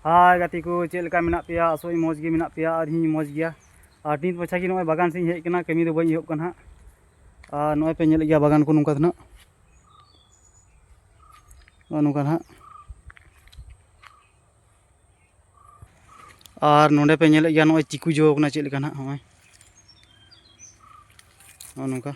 ᱦᱟᱭ ᱜᱟᱛᱮ ᱠᱚ ᱪᱮᱫ ᱞᱮᱠᱟ ᱢᱮᱱᱟᱜ ᱯᱮᱭᱟ ᱟᱥᱚᱜ ᱢᱚᱡᱽ ᱜᱮ ᱢᱮᱱᱟᱜ ᱯᱮᱭᱟ ᱟᱨ ᱤᱧ ᱢᱚᱡᱽ ᱜᱮᱭᱟ ᱟᱨ ᱱᱤᱛ ᱢᱟᱪᱷᱟ ᱜᱮ ᱱᱚᱜᱼᱚᱭ ᱵᱟᱜᱟᱱ ᱥᱮᱫ ᱤᱧ ᱦᱮᱡ ᱟᱠᱟᱱᱟ ᱠᱟᱹᱢᱤ ᱫᱚ ᱵᱟᱹᱧ ᱮᱦᱚᱵ ᱠᱟᱱᱟ ᱦᱟᱸᱜ ᱟᱨ ᱱᱚᱜᱼᱚᱭ ᱯᱮ ᱧᱮᱞᱮᱫ ᱜᱮᱭᱟ ᱵᱟᱜᱟᱱ ᱠᱚ ᱱᱚᱝᱠᱟ ᱫᱚ ᱱᱟᱜ ᱱᱚᱜᱼᱚ ᱱᱚᱝᱠᱟ ᱱᱟᱜ ᱟᱨ ᱱᱚᱰᱮ ᱯᱮ ᱧᱮᱞᱮᱫ ᱜᱮᱭᱟ ᱱᱚᱜᱼᱚᱭ ᱪᱤᱠᱩ ᱡᱚ ᱠᱟᱱᱟ ᱪᱮᱫ ᱞᱮᱠᱟ ᱱᱟᱜ ᱱᱚᱜᱼᱚᱭ ᱱᱚᱜᱼᱚ ᱱᱚᱝᱠᱟ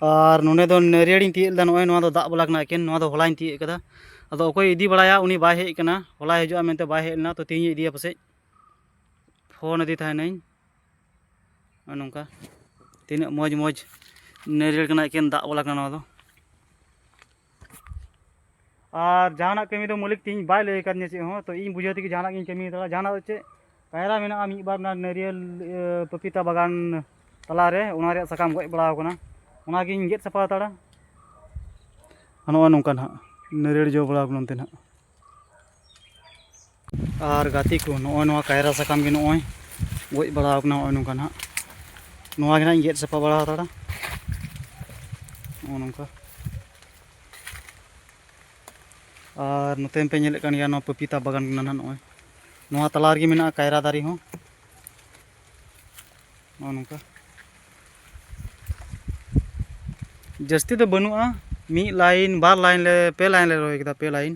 ᱟᱨ ᱱᱚᱰᱮ ᱫᱚ ᱱᱟᱹᱨᱤᱭᱟᱹᱲᱤᱧ ᱛᱤᱭᱟᱹᱜ ᱞᱮᱫᱟ ᱱᱚᱜᱼᱚᱭ ᱱᱚᱣᱟ ᱫᱚ ᱫᱟᱜ ᱵᱟᱞᱟ ᱠᱟᱱᱟ ᱮᱠᱮᱱ ᱱᱚᱣᱟ ᱫᱚ ᱦᱚᱞᱟᱧ ᱛᱤᱭᱟᱹᱜ ᱠᱟᱫᱟ ᱟᱫᱚ ᱚᱠᱚᱭ ᱤᱫᱤ ᱵᱟᱲᱟᱭᱟ ᱩᱱᱤ ᱵᱟᱭ ᱦᱮᱡ ᱠᱟᱱᱟ ᱦᱚᱞᱟᱭ ᱦᱤᱡᱩᱜᱼᱟ ᱢᱮᱱᱛᱮ ᱵᱟᱭ ᱦᱮᱡ ᱞᱮᱱᱟ ᱛᱚ ᱛᱮᱦᱮᱧ ᱤᱫᱤᱭᱟ ᱯᱟᱥᱮᱡ ᱯᱷᱳᱱ ᱟᱫᱮ ᱛᱟᱦᱮᱱᱟᱹᱧ ᱱᱚᱝᱠᱟ ᱛᱤᱱᱟᱹᱜ ᱢᱚᱡᱽ ᱢᱚᱡᱽ ᱱᱟᱹᱨᱤᱭᱟᱹᱲ ᱠᱟᱱᱟ ᱮᱠᱮᱱ ᱫᱟᱜ ᱵᱟᱞᱟ ᱠᱟᱱᱟ ᱱᱚᱣᱟ ᱫᱚ ᱟᱨ ᱡᱟᱦᱟᱱᱟᱜ ᱠᱟᱹᱢᱤ ᱫᱚ ᱢᱟᱹᱞᱤᱠ ᱛᱤᱧ ᱵᱟᱭ ᱞᱟᱹᱭ ᱟᱠᱟᱫᱤᱧᱟ ᱪᱮᱫ ᱦᱚᱸ ᱛᱚ ᱤᱧ ᱵᱩᱡᱷᱟᱹᱣ ᱛᱮᱜᱮ ᱡᱟᱦᱟᱱᱟᱜ ᱜᱤᱧ ᱠᱟᱹᱢᱤ ᱫᱟᱲᱮᱭᱟᱜᱼᱟ ᱡᱟᱦᱟᱱᱟᱜ ᱫᱚ ᱪᱮᱫ ᱠᱟᱭᱨᱟ ᱢᱮᱱᱟᱜᱼᱟ ᱢᱤᱫ ᱵᱟᱨ ᱢᱮᱱᱟᱜᱼᱟ ᱱᱟᱹᱨᱤᱭᱟᱹᱞ ᱯᱟᱯᱤᱛᱟ ᱵᱟᱜᱟᱱ ᱛᱟᱞᱟᱨᱮ ᱚᱱᱟ ᱨᱮᱭᱟᱜ ᱥᱟᱠᱟᱢ ᱜᱚᱡ ᱵᱟᱲᱟᱣ ᱠᱟᱱᱟ ᱚᱱᱟᱜᱤᱧ ᱜᱮᱫ ᱥᱟᱯᱷᱟ ᱦᱟᱛᱟᱲᱟ ᱱᱚᱜᱼᱚ ᱱᱚᱝᱠᱟ ᱱᱟᱦᱟᱜ ᱱᱟᱹᱨᱤᱭᱟᱹᱞ ᱡᱚ ᱵᱟᱲᱟᱣ ᱠᱟᱱᱟ ᱚᱱᱛᱮ ᱱᱟᱦᱟᱜ ᱟᱨ ᱜᱟᱛᱮ ᱠᱚ ᱱᱚᱜᱼᱚᱭ ᱱᱚᱣᱟ ᱠᱟᱭᱨᱟ ᱥᱟᱠᱟᱢ ᱜᱮ ᱱᱚᱜᱼᱚᱭ ᱜᱚᱡ ᱵᱟᱲᱟ ᱟᱠᱟᱱᱟ ᱱᱚᱜᱼᱚᱭ ᱱᱚᱝᱠᱟ ᱱᱟᱦᱟᱜ ᱱᱚᱣᱟ ᱜᱮ ᱱᱟᱦᱟᱜ ᱤᱧ ᱜᱮᱫ ᱥᱟᱯᱷᱟ ᱵᱟᱲᱟ ᱦᱟᱛᱟᱲᱟ ᱱᱚᱜᱼᱚ ᱱᱚᱝᱠᱟ ᱟᱨ ᱱᱚᱛᱮ ᱯᱮ ᱧᱮᱞᱮᱫ ᱠᱟᱱ ᱜᱮᱭᱟ ᱱᱚᱣᱟ ᱯᱟᱯᱤᱛᱟ ᱵᱟᱜᱟᱱ ᱠᱟᱱᱟ ᱱᱟᱦᱟᱜ ᱱᱚᱜᱼᱚᱭ ᱱᱚᱣᱟ ᱛᱟᱞᱟ ᱨᱮᱜᱮ ᱢᱮᱱᱟᱜᱼᱟ ᱠᱟᱭᱨᱟ ᱫᱟᱨᱮ ᱦᱚᱸ ᱱᱚᱜᱼᱚ ᱱᱚᱝᱠᱟ ᱡᱟᱹᱥᱛᱤ ᱫᱚ ᱵᱟᱹᱱᱩᱜᱼᱟ ᱢᱤᱫ ᱞᱟᱭᱤᱱ ᱵᱟᱨ ᱞᱟᱭᱤᱱ ᱞᱮ ᱯᱮ ᱞᱟᱭᱤᱱ ᱞᱮ ᱨᱚᱦᱚᱭ ᱠᱮᱫᱟ ᱯᱮ ᱞᱟᱭᱤᱱ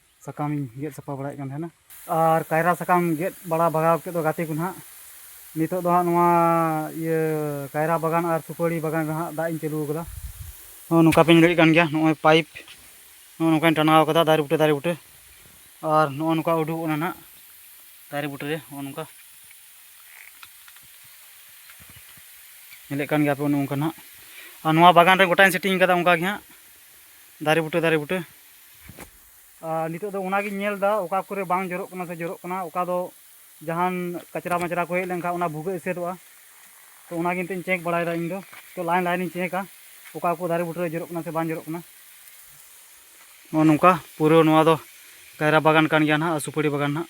ᱥᱟᱠᱟᱢ ᱤᱧ ᱜᱮᱫ ᱥᱟᱯᱷᱟ ᱵᱟᱲᱟᱭᱮᱫ ᱠᱟᱱ ᱛᱟᱦᱮᱱᱟ ᱟᱨ ᱠᱟᱭᱨᱟ ᱥᱟᱠᱟᱢ ᱜᱮᱫ ᱵᱟᱲᱟ ᱵᱷᱟᱜᱟᱣ ᱠᱮᱫ ᱫᱚ ᱜᱟᱛᱮ ᱠᱚ ᱱᱟᱦᱟᱜ ᱱᱤᱛᱚᱜ ᱫᱚ ᱦᱟᱸᱜ ᱱᱚᱣᱟ ᱤᱭᱟᱹ ᱠᱟᱭᱨᱟ ᱵᱟᱜᱟᱱ ᱟᱨ ᱥᱩᱯᱟᱹᱲᱤ ᱵᱟᱜᱟᱱ ᱨᱮ ᱦᱟᱸᱜ ᱫᱟᱜ ᱤᱧ ᱪᱟᱹᱞᱩ ᱟᱠᱟᱫᱟ ᱱᱚᱜᱼᱚᱭ ᱱᱚᱝᱠᱟ ᱯᱮ ᱧᱮᱞᱮᱫ ᱠᱟᱱ ᱜᱮᱭᱟ ᱱᱚᱜᱼᱚᱭ ᱯᱟᱭᱤᱯ ᱱᱚᱜᱼᱚᱭ ᱱᱚᱝᱠᱟᱧ ᱴᱟᱱᱟᱣ ᱟᱠᱟᱫᱟ ᱫᱟᱨᱮ ᱵᱩᱴᱟᱹ ᱫᱟᱨᱮ ᱵᱩᱴᱟᱹ ᱟᱨ ᱱᱚᱜᱼᱚᱭ ᱱᱚᱝᱠᱟ ᱩᱰᱩᱠᱚᱜ ᱠᱟᱱᱟ ᱱᱟᱦᱟᱜ ᱫᱟᱨᱮ ᱵᱩᱴᱟᱹ ᱨᱮ ᱱᱚᱜᱼᱚᱭ ᱱᱚᱝᱠᱟ ᱧᱮᱞᱮᱫ ᱠᱟᱱ ᱜᱮᱭᱟ ᱯᱮ ᱱᱚᱝᱠᱟ ᱱᱟᱦᱟᱜ ᱟᱨ ᱱᱚᱣᱟ ᱵᱟᱜᱟᱱ ᱨᱮ ᱜᱚᱴᱟᱧ ᱥᱮᱴᱤᱝ ᱟᱠᱟᱫᱟ ᱚᱱᱠᱟ ᱜᱮ ᱦᱟᱸᱜ ᱫᱟᱨᱮ ᱵᱩᱴᱟᱹ ᱫᱟᱨᱮ ᱵᱩᱴᱟᱹ ᱟᱨ ᱱᱤᱛᱚᱜ ᱫᱚ ᱚᱱᱟᱜᱤᱧ ᱧᱮᱞ ᱮᱫᱟ ᱚᱠᱟ ᱠᱚᱨᱮ ᱵᱟᱝ ᱡᱚᱨᱚᱜ ᱠᱟᱱᱟ ᱥᱮ ᱡᱚᱨᱚᱜ ᱠᱟᱱᱟ ᱚᱠᱟ ᱫᱚ ᱡᱟᱦᱟᱱ ᱠᱟᱪᱨᱟ ᱢᱟᱪᱨᱟ ᱠᱚ ᱦᱮᱡ ᱞᱮᱱᱠᱷᱟᱱ ᱚᱱᱟ ᱵᱷᱩᱜᱟᱹᱜ ᱮᱥᱮᱫᱚᱜᱼᱟ ᱛᱚ ᱚᱱᱟᱜᱮ ᱱᱤᱛᱚᱜ ᱤᱧ ᱪᱮᱠ ᱵᱟᱲᱟᱭᱮᱫᱟ ᱤᱧ ᱫᱚ ᱛᱚ ᱞᱟᱭᱤᱱ ᱞᱟᱭᱤᱱᱤᱧ ᱪᱮᱠᱟ ᱚᱠᱟ ᱠᱚ ᱫᱟᱨᱮ ᱵᱩᱴᱟᱹᱨᱮ ᱡᱚᱨᱚᱜ ᱠᱟᱱᱟ ᱥᱮ ᱵᱟᱝ ᱡᱚᱨᱚᱜ ᱠᱟᱱᱟ ᱱᱚᱜᱼᱚ ᱱᱚᱝᱠᱟ ᱯᱩᱨᱟᱹ ᱱᱚᱣᱟ ᱫᱚ ᱠᱟᱭᱨᱟ ᱵᱟᱜᱟᱱ ᱠᱟᱱ ᱜᱮᱭᱟ ᱱᱟᱦᱟᱜ ᱥᱩᱯᱟᱹᱲᱤ ᱵᱟᱜᱟᱱ ᱱᱟᱦᱟᱜ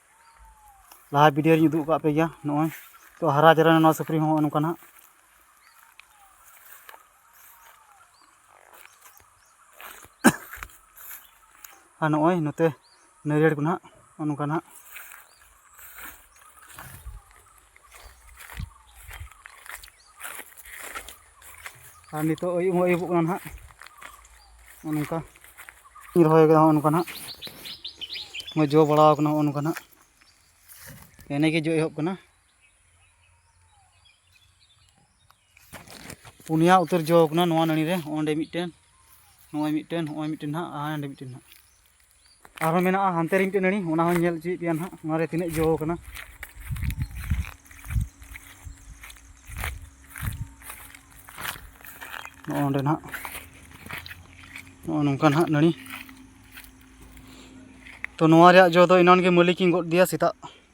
ᱞᱟᱦᱟ ᱵᱷᱤᱰᱤᱭᱳ ᱨᱤᱧ ᱩᱫᱩᱜ ᱟᱠᱟᱫ ᱯᱮ ᱜᱮᱭᱟ ᱱᱚᱜᱼᱚᱭ ᱛᱚ ᱦᱟᱨᱟ ᱡᱟᱣᱨᱟᱭᱮᱱᱟ ᱱᱚᱣᱟ ᱥᱩᱠᱨᱤ ᱦᱚᱸ ᱱᱚᱜᱼᱚ ᱱᱚᱝᱠᱟ ᱱᱟᱜ ᱟᱨ ᱱᱚᱜᱼᱚᱭ ᱱᱚᱛᱮ ᱱᱟᱹᱨᱭᱟᱹᱲ ᱠᱚ ᱱᱟᱜ ᱱᱚᱜᱼᱚ ᱱᱚᱝᱠᱟ ᱱᱟᱜ ᱟᱨ ᱱᱤᱛᱚᱜ ᱟᱹᱭᱩᱵ ᱦᱚᱸ ᱟᱹᱭᱩᱵᱚᱜ ᱠᱟᱱᱟ ᱱᱟᱦᱟᱜ ᱱᱚᱜᱼᱚ ᱱᱚᱝᱠᱟ ᱤᱧ ᱨᱚᱦᱚᱭ ᱠᱟᱫᱟ ᱱᱚᱜᱼᱚ ᱱᱚᱝᱠᱟ ᱱᱟᱦᱟᱜ ᱱᱚᱜᱼᱚᱭ ᱡᱚ ᱵᱟᱲᱟᱣ ᱠᱟᱱᱟ ᱱᱚᱜᱼᱚ ᱱᱚᱝᱠᱟ ᱱᱟᱦᱟᱜ ᱮᱱᱮ ᱜᱮ ᱡᱚ ᱮᱦᱚᱵ ᱠᱟᱱᱟ ᱯᱩᱱᱭᱟ ᱩᱛᱟᱹᱨ ᱡᱚ ᱠᱟᱱᱟ ᱱᱚᱣᱟ ᱱᱟᱹᱲᱤ ᱨᱮ ᱚᱸᱰᱮ ᱢᱤᱫᱴᱮᱱ ᱱᱚᱜᱼᱚᱭ ᱢᱤᱫᱴᱮᱱ ᱱᱚᱜᱼᱚᱭ ᱢᱤᱫᱴᱮᱱ ᱦᱟᱸᱜ ᱟᱨ ᱚᱸᱰᱮ ᱢᱤᱫᱴᱮᱱ ᱦᱟᱸᱜ ᱟᱨᱦᱚᱸ ᱢᱮᱱᱟᱜᱼᱟ ᱦᱟᱱᱛᱮ ᱨᱮ ᱢᱤᱫᱴᱮᱱ ᱱᱟᱹᱲᱤ ᱚᱱᱟ ᱦᱚᱸ ᱧᱮᱞ ᱦᱚᱪᱚᱭᱮᱫ ᱯᱮᱭᱟ ᱦᱟᱸᱜ ᱚᱱᱟ ᱨᱮ ᱛᱤᱱᱟᱹᱜ ᱡᱚ ᱠᱟᱱᱟ ᱱᱚᱜᱼᱚ ᱱᱚᱸᱰᱮ ᱱᱟᱦᱟᱜ ᱱᱚᱜᱼᱚ ᱱᱚᱝᱠᱟ ᱱᱟᱦᱟᱜ ᱱᱟᱹᱲᱤ ᱛᱚ ᱱᱚᱣᱟ ᱨᱮᱭᱟᱜ ᱡᱚ ᱫᱚ ᱮᱱᱟᱱ ᱜᱮ ᱢᱟᱹᱞᱤᱠᱤᱧ ᱜᱚᱫ ᱟᱫᱮᱭᱟ ᱥᱮᱛᱟᱜ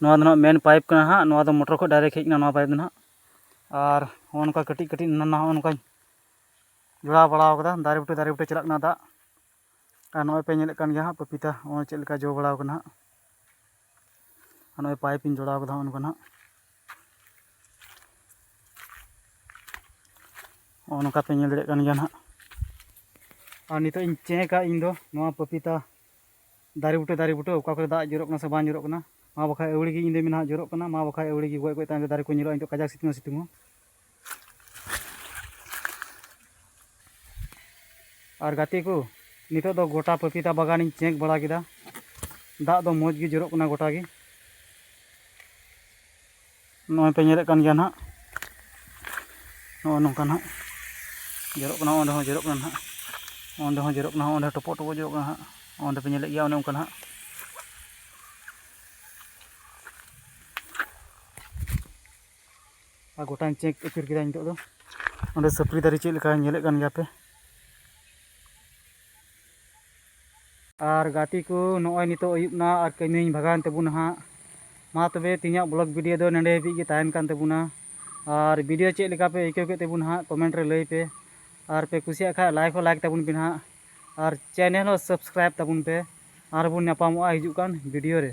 ᱱᱚᱣᱟ ᱫᱚ ᱱᱟᱦᱟᱜ ᱢᱮᱱ ᱯᱟᱭᱤᱯ ᱠᱟᱱᱟ ᱱᱟᱦᱟᱜ ᱱᱚᱣᱟ ᱫᱚ ᱢᱚᱴᱚᱨ ᱠᱷᱚᱱ ᱰᱟᱭᱨᱮᱠᱴ ᱦᱮᱡ ᱠᱟᱱᱟ ᱱᱚᱣᱟ ᱯᱟᱭᱤᱯ ᱫᱚ ᱱᱟᱦᱟᱜ ᱟᱨ ᱱᱚᱜᱼᱚ ᱱᱚᱝᱠᱟ ᱠᱟᱹᱴᱤᱡ ᱠᱟᱹᱴᱤᱡ ᱱᱟᱱᱟ ᱦᱚᱸᱜᱼᱚ ᱱᱚᱝᱠᱟᱧ ᱡᱚᱲᱟᱣ ᱵᱟᱲᱟ ᱠᱟᱫᱟ ᱫᱟᱨᱮ ᱵᱩᱴᱟᱹ ᱫᱟᱨᱮ ᱵᱩᱴᱟᱹ ᱪᱟᱞᱟᱜ ᱠᱟᱱᱟ ᱫᱟᱜ ᱟᱨ ᱱᱚᱜᱼᱚᱭ ᱯᱮ ᱧᱮᱞᱮᱫ ᱠᱟᱱ ᱜᱮᱭᱟ ᱦᱟᱸᱜ ᱯᱟᱯᱤᱛᱟ ᱱᱚᱜᱼᱚᱭ ᱪᱮᱫ ᱞᱮᱠᱟ ᱡᱚ ᱵᱟᱲᱟᱣ ᱠᱟᱱᱟ ᱦᱟᱸᱜ ᱟᱨ ᱱᱚᱜᱼᱚᱭ ᱯᱟᱭᱤᱯ ᱤᱧ ᱡᱚᱲᱟᱣ ᱠᱟᱫᱟ ᱦᱚᱸᱜᱼᱚ ᱱᱚᱝᱠᱟ ᱱᱟᱦᱟᱜ ᱱᱚᱜᱼᱚ ᱱᱚᱝᱠᱟ ᱯᱮ ᱧᱮᱞ ᱫᱟᱲᱮᱭᱟᱜ ᱠᱟᱱ ᱜᱮᱭᱟ ᱱᱟᱦᱟᱜ ᱟᱨ ᱱᱤᱛᱚᱜ ᱤᱧ ᱪᱮᱠᱟ ᱤᱧ ᱫᱚ ᱱᱚᱣᱟ ᱯᱟᱯᱤᱛᱟ ᱫᱟᱨᱮ ᱵᱩᱴᱟᱹ ᱫᱟᱨᱮ ᱵᱩᱴᱟᱹ ᱚᱠᱟ ᱠᱚᱨᱮ ᱫᱟᱜ ᱡᱚᱨᱚᱜ ᱠᱟᱱᱟ ᱥᱮ ᱵᱟᱝ ᱡᱚᱨᱚᱜ ᱠᱟᱱᱟ ᱢᱟ ᱵᱟᱠᱷᱟᱡ ᱟᱹᱣᱲᱤ ᱜᱮ ᱧᱤᱫᱟᱹ ᱢᱮᱱᱟᱜ ᱡᱚᱨᱚᱜ ᱠᱟᱱᱟ ᱢᱟ ᱵᱟᱠᱷᱟᱡ ᱟᱹᱣᱲᱤ ᱜᱮ ᱜᱚᱡ ᱜᱚᱡ ᱛᱟᱭᱚᱢ ᱨᱮ ᱫᱟᱨᱮ ᱠᱚ ᱧᱮᱞᱚᱜᱼᱟ ᱱᱤᱛᱚᱜ ᱠᱟᱡᱟᱠ ᱥᱤᱛᱩᱝ ᱥᱤᱛᱩᱝ ᱦᱚᱸ ᱟᱨ ᱜᱟᱛᱮ ᱠᱚ ᱱᱤᱛᱚᱜ ᱫᱚ ᱜᱚᱴᱟ ᱯᱟᱯᱤᱛᱟ ᱵᱟᱜᱟᱱᱤᱧ ᱪᱮᱠ ᱵᱟᱲᱟ ᱠᱮᱫᱟ ᱫᱟᱜ ᱫᱚ ᱢᱚᱡᱽ ᱜᱮ ᱡᱚᱨᱚᱜ ᱠᱟᱱᱟ ᱜᱚᱴᱟ ᱜᱮ ᱱᱚᱜᱼᱚᱭ ᱯᱮ ᱧᱮᱞᱮᱫ ᱠᱟᱱ ᱜᱮᱭᱟ ᱱᱟᱦᱟᱜ ᱱᱚᱜᱼᱚᱭ ᱱᱚᱝᱠᱟ ᱱᱟᱦᱟᱜ ᱡᱚᱨᱚᱜ ᱠᱟᱱᱟ ᱚᱸᱰᱮ ᱦᱚᱸ ᱡᱚᱨᱚᱜ ᱠᱟᱱᱟ ᱱᱟᱦᱟᱜ ᱚᱸᱰᱮ ᱦᱚᱸ ᱡᱚᱨᱚᱜ ᱠᱟᱱᱟ ᱚᱸᱰᱮ ᱴᱚᱯᱚᱜ ᱴᱚᱯᱚᱜ ᱡᱚᱨᱚᱜ ᱠᱟᱱᱟ ᱱᱟᱦᱟᱜ ᱚᱸᱰᱮ ᱯᱮ ᱧᱮᱞᱮᱫ ᱜᱮᱭᱟ ᱚᱱᱮ ᱚᱱᱠᱟ ᱱᱟᱦᱟᱜ ᱟᱨ ᱜᱚᱴᱟᱧ ᱪᱮᱠ ᱟᱹᱪᱩᱨ ᱠᱮᱫᱟ ᱱᱤᱛᱚᱜ ᱫᱚ ᱚᱸᱰᱮ ᱥᱟᱹᱯᱲᱤ ᱫᱟᱨᱮ ᱪᱮᱫ ᱞᱮᱠᱟ ᱧᱮᱞᱮᱫ ᱠᱟᱱ ᱜᱮᱭᱟ ᱯᱮ ᱟᱨ ᱜᱟᱛᱮ ᱠᱚ ᱱᱚᱜᱼᱚᱭ ᱱᱤᱛᱚᱜ ᱟᱹᱭᱩᱵ ᱮᱱᱟ ᱟᱨ ᱠᱟᱹᱢᱤᱧ ᱵᱷᱟᱜᱟᱣᱮᱱ ᱛᱟᱵᱚᱱᱟ ᱦᱟᱸᱜ ᱢᱟ ᱛᱚᱵᱮ ᱛᱮᱦᱮᱧᱟᱜ ᱵᱞᱚᱜ ᱵᱷᱤᱰᱤᱭᱳ ᱫᱚ ᱱᱚᱸᱰᱮ ᱦᱟᱹᱵᱤᱡ ᱜᱮ ᱛᱟᱦᱮᱱ ᱠᱟᱱ ᱛᱟᱵᱚᱱᱟ ᱟᱨ ᱵᱷᱤᱰᱤᱭᱳ ᱪᱮᱫ ᱞᱮᱠᱟ ᱯᱮ ᱟᱹᱭᱠᱟᱹᱣ ᱠᱮᱫ ᱛᱟᱵᱚᱱᱟ ᱦᱟᱸᱜ ᱠᱚᱢᱮᱱᱴ ᱨᱮ ᱞᱟᱹᱭ ᱯᱮ ᱟᱨ ᱯᱮ ᱠᱩᱥᱤᱭᱟᱜ ᱠᱷᱟᱡ ᱞᱟᱭᱤᱠ ᱦᱚᱸ ᱞᱟᱭᱤᱠ ᱛᱟᱵᱚᱱ ᱯᱮ ᱦᱟᱸᱜ ᱟᱨ ᱪᱮᱱᱮᱞ ᱦᱚᱸ ᱥᱟᱵᱥᱠᱨᱟᱭᱤᱵᱽ ᱛᱟᱵᱚᱱ ᱯᱮ ᱟᱨ ᱵᱚᱱ ᱧᱟᱯᱟᱢᱚᱜᱼᱟ ᱦᱤᱡᱩᱜ ᱠᱟᱱ ᱵᱷᱤᱰᱤᱭᱳ ᱨᱮ